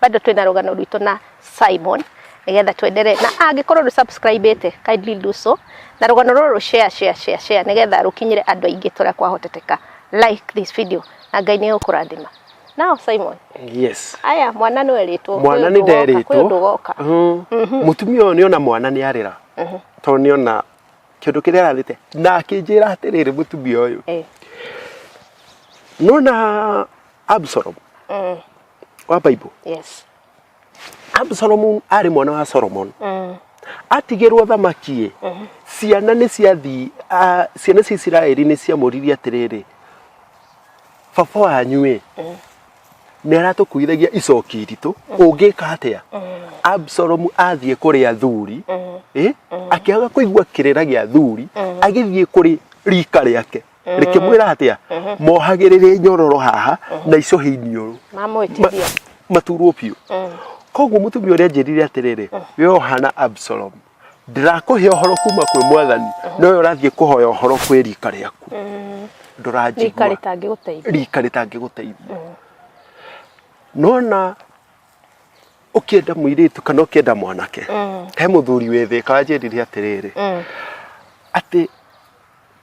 bado twina rugano rwitå na Simon nigetha tuendelee na angĩkorwo ndå subscribe ite kindly do so na rugano rũrũ share share share share nigetha rũkinyĩre andũ aingĩ tũrĩa kwahoteteka like this video na ngai nĩ ũkũrathima nao Simon yes aya
mwana nĩ
werĩtwo mwana nĩ nderĩtwo kwĩ
ũndũ goka Mhm. mũtumia ũyũ nĩ ona mwana nĩ arĩra tondũ nĩ ona kĩndũ kĩrĩa ararĩte na akĩnjĩra atĩrĩrĩ mũtumia ũyũ Eh, nona Absalom wa bible yes absalom arĩ mwana wa solomon mm. atigĩrwo thamaki mm. ciana nĩ ciathi ah, ciana cia isiraeli nĩ ciamũririe atĩrĩrĩ baba wanyu ĩ mm. nĩ aratũkuithagia icoki iritũ mm. ũngĩka atĩa mm. absalom athiĩ kũrĩ athuri mm. ĩ mm. akĩaga kũigua kĩrĩra gĩa athuri mm. agĩthiĩ kũrĩ rika rĩake rĩkĩmwĩra atĩa mohagĩrĩre nyororo haha na icũhĩ iniũrũ mamwĩtithia
maturwo biũ
koguo mũtumia ũrĩa njĩrire atĩrĩrĩ we ohana absalom ndirakũhe ũhoro kuma kwĩ mwathani no we ũrathiĩ kũhoya ũhoro kwĩ rika rĩaku rika ndũranjigua rĩtangĩgũteithia rika rĩtangĩgũteithia nona ũkĩenda mũirĩtu kana ũkĩenda mwanake he mũthuri wĩ thĩ kanjĩrire atĩrĩrĩ atĩ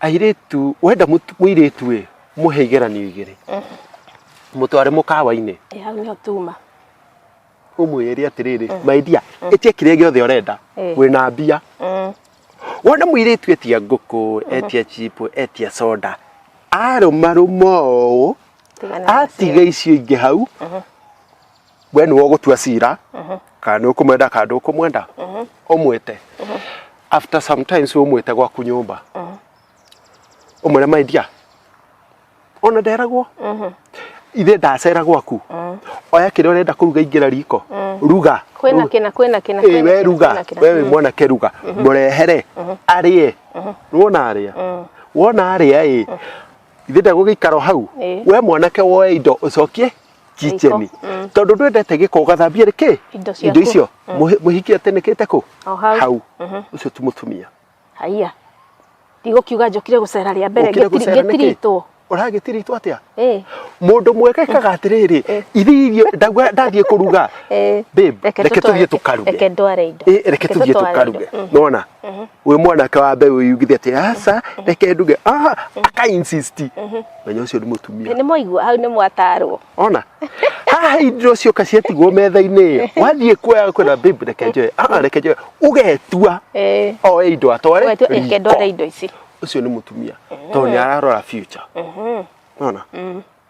airĩtu wenda mũtu- mũirĩtu ĩ mũhe igeranio igĩrĩ mũtware mũkawa-inĩ Eh, hau nĩho tuma ũmwĩre atĩrĩrĩ maidia ĩtie kĩrĩa gĩothe ũrenda Eh. wĩna mbia Mm. wona mũirĩtu etia ngũkũ etia chipo etia soda arũmarũma ũũ atiga icio ingĩ hau we nĩwe ũgũtua cira kana nĩ ũkũmwenda kana ndũkũmwenda ũmwĩte after sometimes ũmwĩte gwaku nyũmba ũmwĩre my dear ona nderagwo ithe ndacera gwaku oya kĩrĩa ũrenda kũruga ingĩra riko ruga kwĩna kĩna kwĩna
kĩna Ĩĩ, kwĩna we kĩna, ruga kwĩna kĩna.
we wĩ mwanake ruga mũrehere arĩe wona arĩa wona arĩa ĩ ithe ndegũgĩikara o hau Ĩĩ. we mwanake woe indo ũcokie kicheni Riko, mm. tondũ ndwendete gĩko ũgathambia rĩ kĩ Indo ciaku. indo icio Mũhi- mũhikie atĩnĩkĩte kũ O hau. hau Mhm. ũcio ti mũtumia haiya
ndigũkiuga njokire gũcera rĩa mbere Ũkire gũcera nĩkĩ? ngĩtiritwo ũragĩtiritwo atĩa
Eh, mũndũ mwekekaga atĩrĩrĩ Eh. ithe irio ndauga- ndathiĩ kũruga eh, Babe, reke reke tũtware- tũthiĩ tũkaruge. reke ndware indo Eh, reke tũthiĩ tũtware tũkaruge indo. Mm. nona wĩ mwanake wa mbeũ yugithe atĩ aca reke nduge ah, aka insist menya ũcio nĩ mũtumia nĩ mwaigua hau nĩ
mwatarwo ona
haha indo cioka ciatigwo metha-inĩ ĩyo wathiĩ kuoya kwĩna babe reke njoe ah, reke njoe ũgetua Eh, oe indo atware wetu riko. reke ndware indo ici
ũcio nĩ mũtumia
tondũ nĩ ararora future ona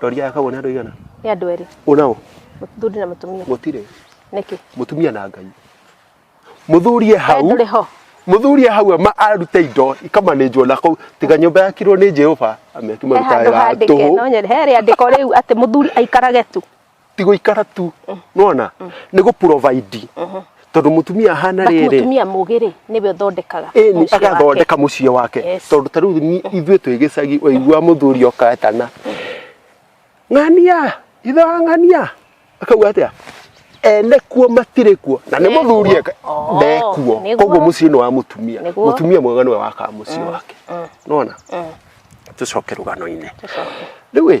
Rori aya
kagwo nĩ andũ aigana? Nĩ andũ erĩ. Ũnao?
Mũthuri
na mũtumia.
Gũtirĩ. Nĩkĩ?
Mũtumia
na Ngai.
Mũthuri e hau. Ndũrĩ ho. Mũthuri e hau ama arute indo ikamanĩnjwo na kũu tiga nyũmba yakirwo nĩ Jehova amekĩ marutaga tũhũ. He handũ handĩke no nyende. He rĩandĩko
rĩu atĩ mũthuri aikarage tu. ti guikara tu
nona ni gu provide tondu mutumia hana But riri mutumia mũgĩ rĩ nĩwe
ũthondekaga ĩni mũciĩ wake. agathondeka
muciĩ wake Yes. tondu ta riu ni- ithuĩ twĩ gĩcagi waigua mũthuri okatana ng'ania ithe wa ng'ania akauga atia ene kuo matirĩ kuo na nĩ Nekuo. mũthuri eka- Oh, ndekuo nĩguo. koguo muciĩ nĩ wa mutumia Nĩguo. mutumia mwega nĩwe wakaga muciĩ wake nona tũcoke rũgano-inĩ Tũcoke. rĩu ĩ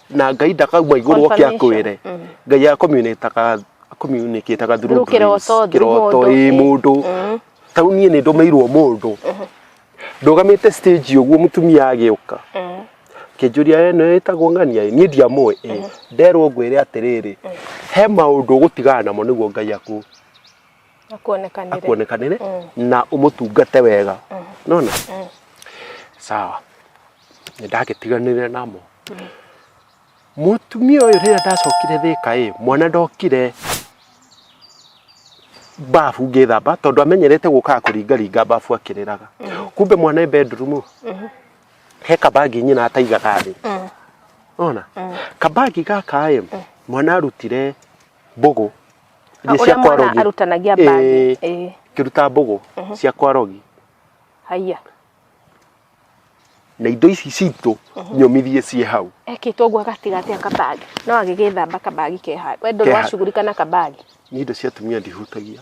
na ngai ndakauma igũrũ oke Confirmation. akwĩre Mm. ngai akomunĩtaga akomunĩkĩtaga Through kĩroto, through kĩroto mũndũ. ĩ mũndũ Mm. tau niĩ nĩ ndũmĩirwo mũndũ ndũgamĩte stage ũguo mũtumia agĩũka Mm. kĩnjũria we nĩ wĩtagwo ng'ania ĩ?" niĩ ndiamũĩ ĩ nderwo ngwĩre atĩrĩrĩ he maũndũ ũgũtigana namo nĩguo ngai aku akuonekanire akuonekanĩre Mm. na ũmũtungate wega nona Mm. sawa nĩ ndagĩtiganire namo mũtumia ũyũ rĩrĩa ndacokire thĩka ĩ mwana ndokire babu ngĩthamba tondũ amenyerete gũkaga kũringaringa babu akĩrĩraga kumbe mwana e bedroom he kabagi nyina ataigaga thĩ Mm. ona kabagi gaka ĩ mwana arutire mbũgũ Ah, Iria ũrĩa cia mwana
kwarogi. arutanagia Ĩĩ, bangi. Ĩĩ. ngĩruta mbũgũ
cia kwarogi Haiya. na indo ici citũ nyũmithie ciĩ hau Ekĩtwo ũguo gatigatĩ
a kabagi. No agĩgĩthamba kabagi ke handũ. We ndũrĩ Ke handũ. wacugurika na kabagi. nĩ indo cia atumia
ndihutagia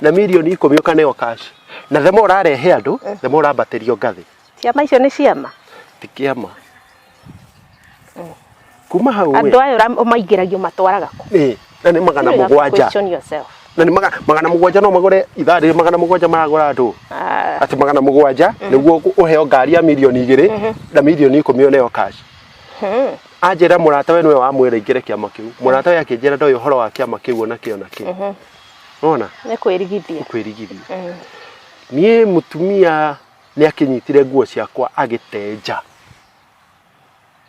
na
milioni ikũmi ũkaneyo cash na thema ũrarehe andũ thema ũrambatĩrio ngathĩ ciama icio nĩ ciama
ti kĩama
kuma hau andũ we aya ũra- ũmaingĩragia
ũmatwaraga kũ ĩ, na nĩ magana You
have to mũgwanja question yourself. na nĩ maga- magana mũgwanja no magũre ithaa rĩrĩ magana mũgwanja maragũra andũ Ah, atĩ magana mũgwanja nĩguo kũ- ũheo ngari ya milioni igĩrĩ na milioni ikũmi ũneyo cash hmm. anjĩra mũrata we nĩwe wamwĩra ingĩre kĩama kĩu mũrata we akĩnjĩra ndoĩ ũhoro wa kĩama kĩu ona kĩo na kĩo wona nĩ kwĩrigithia
kwĩrigithia Mm.
niĩ mũtumia nĩ akĩnyitire nguo ciakwa agĩtenja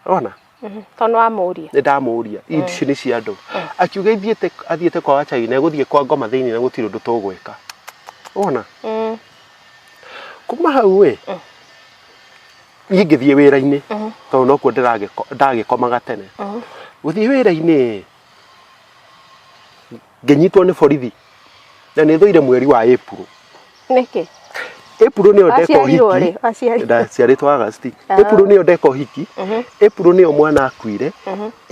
wona Mhm.
tondũ wamũria nĩ ndamũria
ici nĩ cia andũ akiuga ithiĩte athiĩte kwa wachai na egũthiĩ kwa ngoma thĩinĩ na gũtirĩ ũndũ tũgwĩka wona Mm. kuma hau ĩ niĩ ngĩthiĩ wĩra-inĩ tondũ nokuo ndĩragĩko- ndagĩkomaga tene gũthiĩ wĩra-inĩ ngenyitwo nĩ borithi na nĩ thũire mweri wa April
nĩkĩ April
nĩyo ndeka Waciarirwo ũhiki rĩ? Waciarirwo. ndaciarĩtwo August Ah. April nĩyo ndeka ũhiki April nĩyo mwana akuire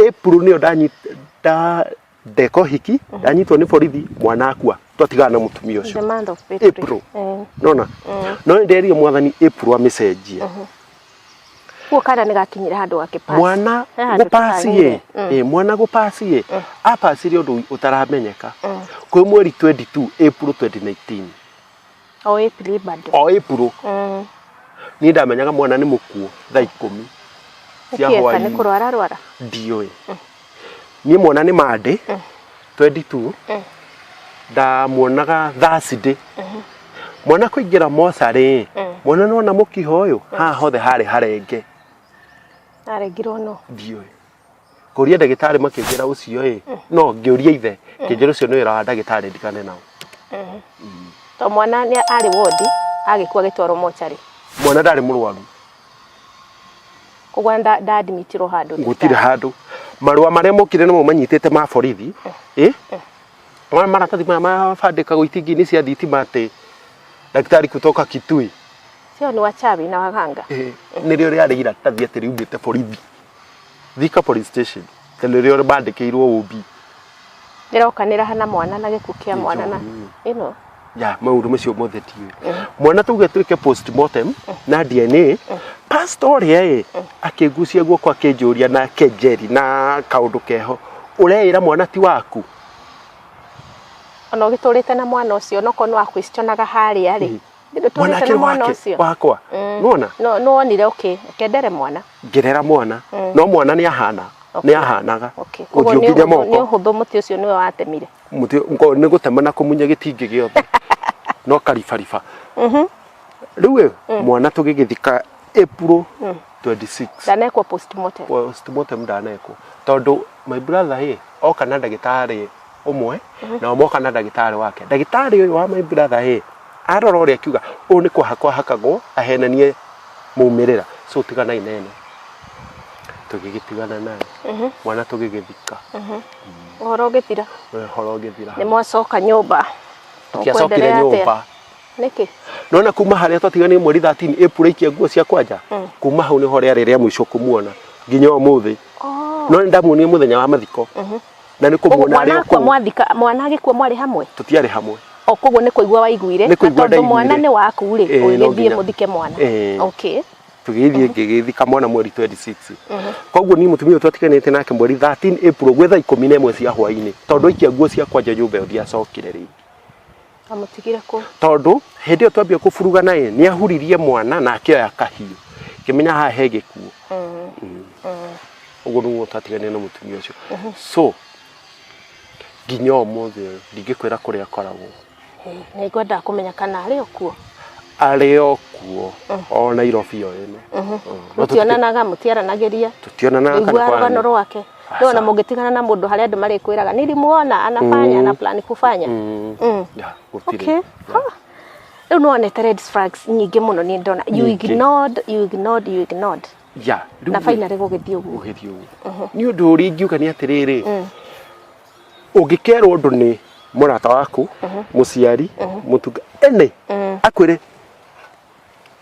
April nĩyo ndanyi- nda- ndeka ũhiki ndanyitwo nĩ borithi mwana akua twatigana na mũtumia the ũcio month of April. April. Eh, nona no nĩ nderire mwathani April amĩcenjie
Kuo kana nĩ gakinyire handũ gakĩpass. mwana He handũ gũpasi
ye gĩtanyire. Mm. Eh, mwana gũpasi ye apasire ũndũ ũtaramenyeka kwĩ mweri 22 April 2019 O
April bado. o April Mm.
niĩ ndamenyaga mwana nĩ mũkuo thaa ikũmi cia Ũkĩeka nĩ hwainĩ kũrwara rwara.
ndiũĩ
niĩ mwana nĩ mandĩ 22 ndamuonaga thursday mwana kũingĩra mocarĩ mwana nona mũkiha ũyũ haha hothe harĩ harenge
arengirwo no ndiũĩ
kũria ndagĩtarĩ makĩnjĩra ũcio ĩ no ngĩũria ithe kĩnjĩra ũcio nĩ wĩra wa ndagĩtarĩ ndigane nao
to mwana nĩ arĩ wondi agĩkua agĩtwarwo mocarĩ mwana ndarĩ mũrwaru
koguo
nda nda admitirwo handũ gutire thibitarĩ. handu
marua maria mokire nimo manyitite ma borithi eh mara maratathi maya mabandikagwo itingi-inĩ cia thitima atĩ ndagĩtarĩ kutoka kitui sio ni
wachawi na waganga eh nĩrĩo rĩarĩ
iratathi atĩ riumĩte borithi Thika Police Station tondũ rĩo bandĩkĩirwo OB. Ĩrokanĩra
hana mwana na gĩkuũ kĩa mwana na ĩno. Ya maũndũ
macio mothe tiũĩ. Mm. Mwana tuge twĩke postmortem mm. na DNA. Mm. Pastor ũrĩa ĩ akĩngucia guoko akĩnjũria na kenjeri na kaũndũ keho ũreĩra mwana ti waku
ona ũgĩtũrĩte na mwana ũcio onokorwo nĩ wakwĩcionaga harĩa rĩ Ndithe tũrĩte mwanake na mwana
wake ũcio. wakwa Mm. nona No no wonire okay.
Kendere mwana. ngĩrera mwana Mm.
no mwana nĩ ahana Okay. nĩ ahanaga Okay. Koguo ũthiũ nĩ nginya ũhũthũ-
nĩ moko ũhũthũ mũtĩ ũcio nĩwe watemire. Mũtĩ- ngo- nĩ
gũtema na kũmunya gĩtingĩ gĩothe no karibariba Mhm. rĩu ĩ, mwana tũgĩgĩthika April 26 Ndanekwo
postmortem. postmortem ndanekwo
tondũ my brother ĩ oka na ndagĩtarĩ ũmwe nao moka na ndagĩtarĩ wake ndagĩtarĩ ũyũ wa my brother ĩ arora ũrĩa akiuga ũyũ nĩ kũhakwo ahakagwo ahenanie maumĩrĩra so tiganai na ĩno tũgĩgĩtigana nayo mwana tũgĩgĩthika Ũhoro
ũgĩthira. ũhoro ũgĩthira Nĩ mwacoka nyũmba. Tũkĩacokire
Mũkwenderea atĩa? nyũmba. Nĩkĩ?
nona kuma
harĩa twatiganire mweri 13 ĩpura ikia nguo cia kwanja kuma hau nĩho rĩarĩ rĩa mũico kũmuona nginya ũmũthĩ Oh. no nĩ ndamuonire mũthenya wa mathiko na nä kå Koguo muona arä mwana o akua kå mwathika mwana
agĩkua mwarĩ hamwe tå tiarä hamwe o
koguo nä kũigua
waiguire Nĩ na kũigua tondũ mwana ndaiguire. nĩ waku rĩ Eh, no ũgĩthiĩ nginya. mũthike mwana Eh. okay tå gä thiä ngä
gä thika mwana mweri 26 koguo niä må tumia å twatiganä te nake mweri 13 April gwä thaa ikå mi na ä mwe cia hwainä tondå aikia nguo ciakwa nja nyå mba ä yo ndiacokire rä Amũtigire
kũ? tondũ hĩndĩ ĩyo
twambia kũburugana ĩ nĩ ahuririe mwana na akĩoya kahiũ ngĩmenya haha he gĩkuũ ũguo nĩguo twatiganire na mũtumia ũcio so nginya ũmũthĩ ũyũ ndingĩkwĩra kũrĩa akoragwo Nĩ ngwendaga
kũmenya kana arĩ o kuo. arĩ
o kuo o Nairobi o ĩno Mũtionanaga,
mũtiaranagĩria, tũtionanaga kana ũiguaga rũgano
kwana. rwake.
no na mũngĩtigana na mũndũ harĩa andũ marĩkwĩraga nilimuona anafanya ana plan kufanya Mm. mm. Yeah,
gũtirĩ. okay
Ha. rĩu nĩ wonete red flags nyingĩ mũno nĩ ndona you Nyingĩ. ignored you ignored you ignored Yeah,
rĩu na rĩ- finally gũgĩthiĩ
ũguo ũgĩthiĩ ũguo nĩ ũndũ
ũrĩa ingiuga nĩ atĩrĩrĩ ũngĩkerwo ũndũ nĩ mũrata waku mũciari mũtunga ene akwĩre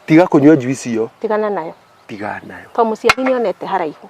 tiga kũnyua njuici ĩyo tigana nayo tiga
nayo to
mũciari nĩ onete
haraihu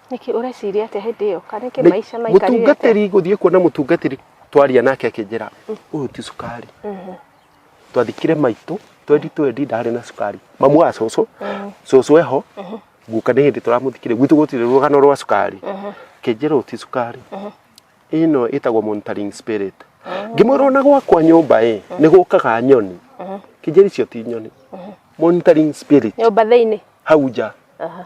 nĩkĩ ũreciria
atĩa hĩndĩ ĩyo kana nĩkĩ maica maikarire atĩa mũtungatĩri gũthiĩ kuona
mũtungatĩri twaria nake akĩnjĩra ũyũ ti cukari twathikire maitũ twendi twendi ndarĩ na cukari mamu wa cũcũ cũcũ eho guka nĩ hĩndĩ tũramũthikire gwitũ gũtirĩ rũgano rwa cukari akĩnjĩra ũyũ ti cukari ĩno ĩtagwo monitoring spirit ngĩmwĩra ona gwakwa nyũmba ĩ nĩ gũkaga nyoni kĩnjĩra icio ti nyoni monitoring spirit nyũmba thĩinĩ
hau nja Aha.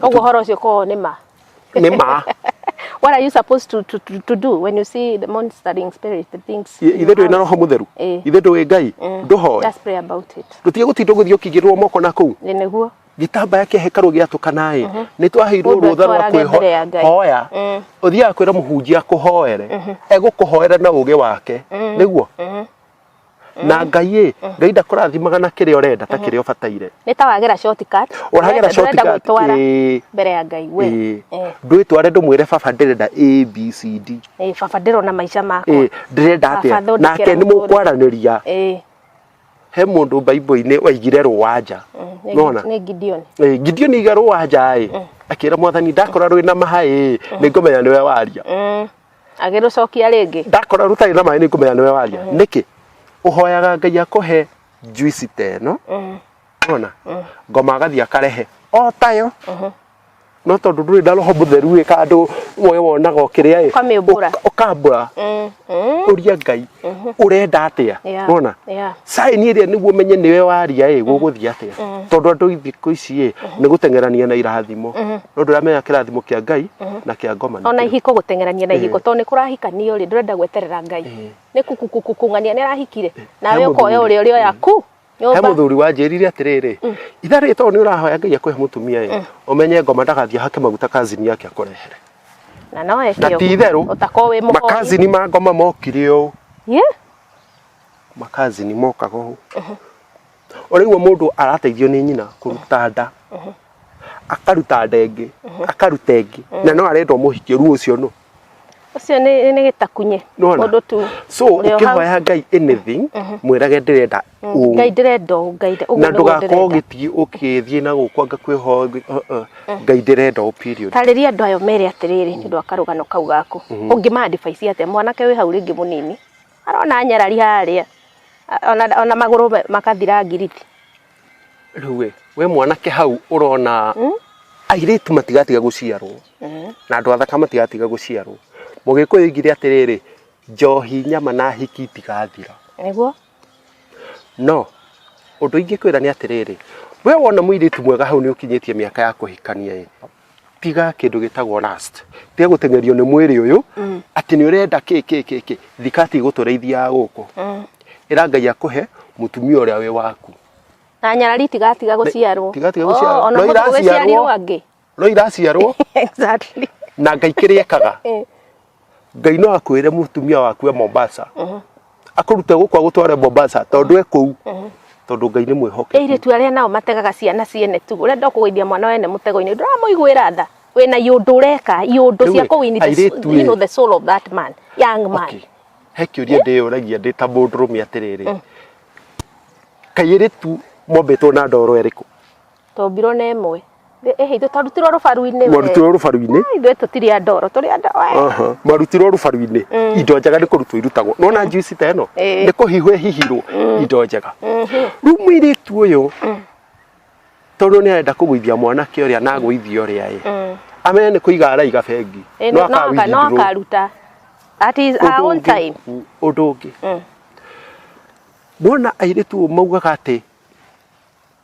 Ũguo
ũhoro ũcio ũkoragwo nĩ ma. nĩ ma What are you supposed to, to, to, to do when you see the monstering spirit, the things? in ithe your ndũĩ na house? roho mũtheru
Eh. ithe ndũĩ ngai ndũhoe Just pray about it.
tũtige gũtinda gũthiĩ ũkĩigĩrĩrwo
moko na kũu Nĩ nĩguo. gĩtambaya
kĩa hekarũ
gĩatũkanaĩ nĩ twaheirwo Mũndũ rũtha rwa atwarage mbere ya Ngai. kwĩhoya ũthiaga kwĩra mũhunjia akũhoere egũkũhoera na ũgĩ wake nĩguo na ngai ĩ ngai ndakũrathimaga na kĩrĩa ũrenda ta kĩrĩa ũbataire nĩ ta wagera
shortcut ũragera shortcut gwĩtwara
ĩĩ mbere ya ngai
we ĩĩ Eh, ndwĩtware ndũmwĩre
baba ndĩrenda abcd eh, baba ndĩrona
maica makwa ĩĩ ndĩrenda Baba, atĩa thondekera
nake nĩ mũtũrĩre. mũkwaranĩria Eh, he mũndũ mbaibũ-inĩ waigire rũwanja mm, nĩ- nona nĩ Gideon
Eh, gideoni aiga
rũwanja ĩ akĩra mwathani ndakora rwĩ na maha ĩ nĩ ngũmenya nĩwe waria Mm, agĩrũcokia
rĩngĩ ndakora rũtarĩ na maĩ nĩ
ngũmenya nĩwe waria nĩkĩ ũhoyaga ngai akũhe njuici ta ĩno ona ngoma agathiĩ akarehe o tayo no tondũ ndũrĩ na roho mũtheru ĩ kandũ we wonaga ũkĩrĩa ĩ Ũkamĩũmbũra. ũka- ũkambũra Mm, mm, ũria ngai ũrenda atĩa Yeah, wona yeah. Sai niä rä nä guo menye nä we waria ä gå gå thiä atä a tondå andå thikå ici ä nä gå teng'erania na irathimo no ndå ramenya kä rathimo kä a ngai na kä a ngoma nĩ ona kĩrĩkũ. ihiko gũteng'erania
na ihiko tondũ nĩ kũrahikanio rĩ ndũrenda gweterera ngai nĩ kukukukung'ania nĩ arahikire He nawe ũkoya mũthuri. ũrĩa ũrĩa oya ku he må nyũmba thuri
wanjä rire atä rä rä itha rä tondå nä å rahoya ngai akå he må tumia ä å menye ngoma ndagathiä hake maguta kazini yake akå rehere na no
na eke ti itherå ũguo. ũtakorwo
wĩ mũhoi makazini
ma ngoma
mokire å Ye? makazi ni mokaga ũũ ũraigua mũndũ arateithio nĩ nyina kũruta nda akaruta nda ĩngĩ akaruta ĩngĩ na no arenda ũmũhikie ruo ũcio no ũcio nĩ
nĩ gĩtakunye Nĩwona? mũndũ tu so ũrĩ o hau. ũkĩhoya
ngai anything mwĩrage ndĩrenda ũũ ngai ndĩrenda
ũũ, ngai ndĩ- ũguo na nĩguo ndũgakorwo
ndĩrenda. ũgĩthiĩ ũkĩthiĩ na gũkwa ngakwĩhoya ngai- uh, uh, ngai ndĩrenda ũũ period tarĩria andũ ayo mere
atĩrĩrĩ nĩ ũndũ wa karũgano kau gaku ũngĩma advice atĩa mwanake wĩ hau rĩngĩ mũnini arona nyarari harĩa ona, ona magũrũ makathira ngiriti rĩu
we we mwanake hau ũrona hmm? airĩtu matigatiga gũciarwo hmm. na andũ athaka matigatiga gũciarwo mũgĩkũyũ igire atĩrĩrĩ njohi nyama na hiki itigathira nĩguo no ũndũ ingĩkwĩra nĩ atĩrĩrĩ we wona mũirĩtu mwega hau nĩ ũkinyĩtie mĩaka ya kũhikania ĩ tiga kindu gitagwo last tiga gutengerio ni mwiri uyu mm. ati ni urenda ki ki ki ki thikati gutureithia guku mm. ira ngai akuhe mutumia uria wi waku na nyarari
tiga tiga guciarwo tiga tiga guciarwo oh, no
iraciarwo
no iraciarwo
exactly
na ngai kiri
ekaga eh. ngai no akwĩre mũtumia waku e mombasa akũrute gũkũ agũtware mombasa tondũ e kũu tondũ ngai nĩ mwĩhoke airĩtu arĩa nao mategaga
ciana ciene tu ũrenda kũgũithia mwana wene mũtego-inĩ ndũramũiguĩra tha wĩna iũndũ ũreka iũndũ cia Rĩu-ĩ, kũwini the, airĩtu-ĩ. soul- you know, the soul of that man young man Okay. he kĩũria
ndĩyũragia ndĩ ta mũndũrũme atĩrĩrĩ kairĩtu mombĩtwo na ndoro ĩrĩkũ Twombirwo na
ĩmwe. Ĩ- ĩhĩ, ithuĩ twarutirwo rũbaru-inĩ we. mwarutirwo rũbaru-inĩ Ai,
ithuĩ tũtirĩ a ndoro
tũrĩ andũ we. Aha. mwarutirwo rũbaru-inĩ
indo njega nĩ kũrutwo irutagwo nona njuici ta ĩno Ĩĩ. nĩ kũhihwo ĩhihirwo indo njega rĩu mũirĩtu ũyũ tondũ nĩ arenda kũgũithia mwanake ũrĩa na agũithia ũrĩa ĩ Mm. amenya nĩ kũiga araiga bengi Ĩ, no aka- no akawithindrwo.
akaruta at his her Ũndũ own ũngĩ- time Mm, ũndũ ũngĩ
Mm. mona airĩtu ũũ maugaga atĩ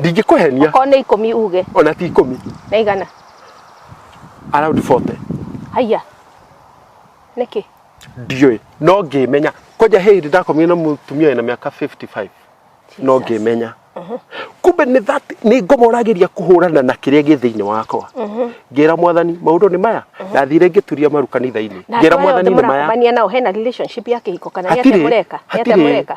ndingĩkũhenia
okorwo nĩ ikũmi
uge ona ti ikũmi na
igana around 40 haiya
nĩkĩ ndiũĩ
no ngĩmenya kwanja hĩndĩ ndakomire na mũtumia na mĩaka 55 no Jesus. ngĩmenya kumbe nĩ that nĩ ngomoragĩria kũhũrana na kĩrĩa gĩ thĩinĩ wakwa ngĩra mwathani maũndũ nĩ maya ndathire ngĩturia maru kanitha-inĩ na ngĩra andũ aya mwathani othe nĩ maya mũrakomania nao hena relationship
ya kĩhiko kana nĩ atĩa Hatirĩ, mũreka nĩ atĩa hatirĩ. mũreka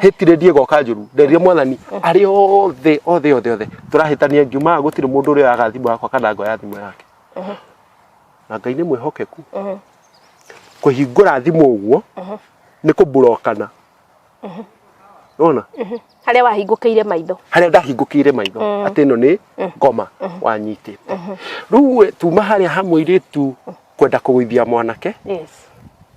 hitire ndiegoka njuru nderire mwathani arĩ othe othe othe othe tũrahĩtania ngiumaga gũtirĩ mũndũ ũrĩa oyaga thimũ yakwa kana ngoya thimũ yake na ngai nĩ mwĩhokeku kũhingũra thimũ ũguo nĩ kũmburokana nona harĩa
wahingũkĩire maitho harĩa ndahingũkĩire
maitho atĩ ĩno nĩ ngoma wanyitĩte rĩu we, tuma harĩa ha mũirĩtu kwenda kũgũithia mwanake yes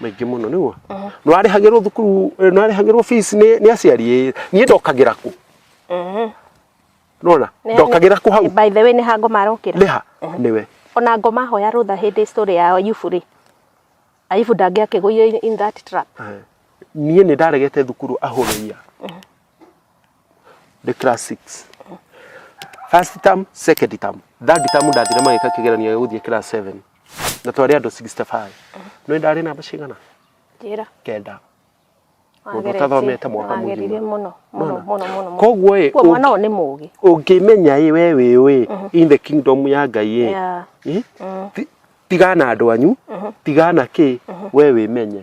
maingĩ mũno nĩguo nĩ warĩhagĩrwo thukuru eh, nĩ warĩhagĩrwo fees nĩ nĩ aciari ĩ, niĩ ndokagĩra kũ nona Nĩ- ndokagĩra kũ hau by the way nĩ hango marokĩra
nĩha nĩwe
ona ngo mahoya
rũtha hĩndĩ story ya yubu rĩ ayubu ndangĩakĩgũire in that trap niĩ nĩ
ndaregete thukuru ahũrĩia the class 6 first term second term third term ndathire magĩka kĩgeranio gĩa gũthiĩ class 7 na twarĩ andũ 65 nĩ ndarĩ namba cigana njĩra
kenda
mũndũ ũtathomete mwaka mũgima mũno mũno mũno
mũno koguo
ĩ kwa mwana ũyũ nĩ
mũgĩ ũngĩmenya ĩ we
wĩ ũĩ in the kingdom ya ngai ĩ Yeah. ĩ, ti- tigana andũ anyu tigana kĩ we wĩmenye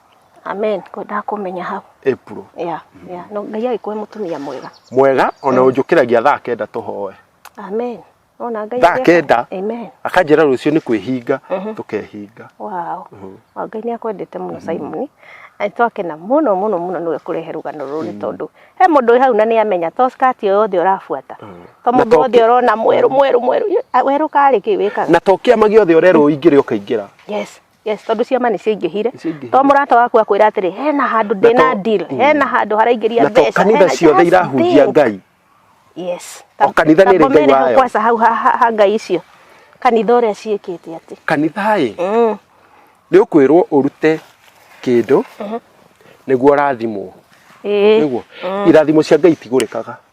amen kwendaga kũmenya hau April yeah,
yeah. no
ngai agĩkũhe mũtumia mwega mwega ona
ũnjũkĩragia thaa kenda tũhoe amen
ona ngai thaa agĩka- kenda amen
akanjĩra
rũciũ nĩ
kwĩhinga tũkehinga wow
Wa ngai nĩ akwendete mũno simoni na nĩ twakena mũno mũno mũno nĩwe kũrehe rũgano rũrũ nĩ tondũ he mũndũ wĩ hau na nĩ amenya to skati ĩyo yothe ũrabuata to Na mũndũ to wothe ki- ũrona mwerũ mwerũ mwerũ Ĩ, a- werũ karĩ kĩ wĩkaga na to kĩama gĩothe ũrerwo
ingĩrĩ ũkaingĩra yes Yes, tondå
ciama nä ciaingähire Nĩciaingĩhire. to må rata waku akwä ra atä rä hena handå ndä Na na to- deal Mm. hena handå haraingä ria na to kanitha ciothe
irahunjia ngai
yes O kanitha nĩ ĩrĩ
ngai wayo. kwaca hau ha- ha ha
ngai icio kanitha å rä a ciä kä te atä kanitha ĩ
nĩ ũkwĩrwo ũrute kĩndũ nĩguo ũrathimwo nĩguo irathimo cia ngai itigũrĩkaga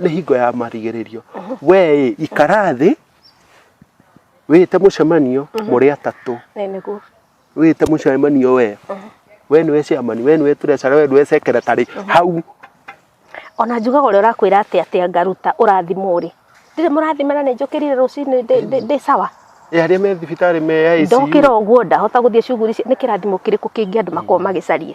nĩ hingo ya marigĩrĩrio wee ĩ, ikara thĩ wĩte mũcemanio mũrĩ atatũ Nĩ nĩguo.
wĩte
mũcemanio wee we nĩwe ciamani we nĩwe tũrecera we nĩwe secretary hau
Ona njugaga ũrĩa ũrakwĩra atĩ atĩ anga ruta ũrathimwo rĩ. Ndirĩ mũrathimana nĩ njũkĩrire rũcinĩ ndĩ- ndĩ- ndĩ sawa. Ĩ, arĩa me thibitarĩ
me ya ICU. Ndokĩra ũguo ndahota
gũthiĩ cuguri ici. Nĩ kĩrathimo kĩrĩkũ kĩngĩ andũ makorwo magĩcaria?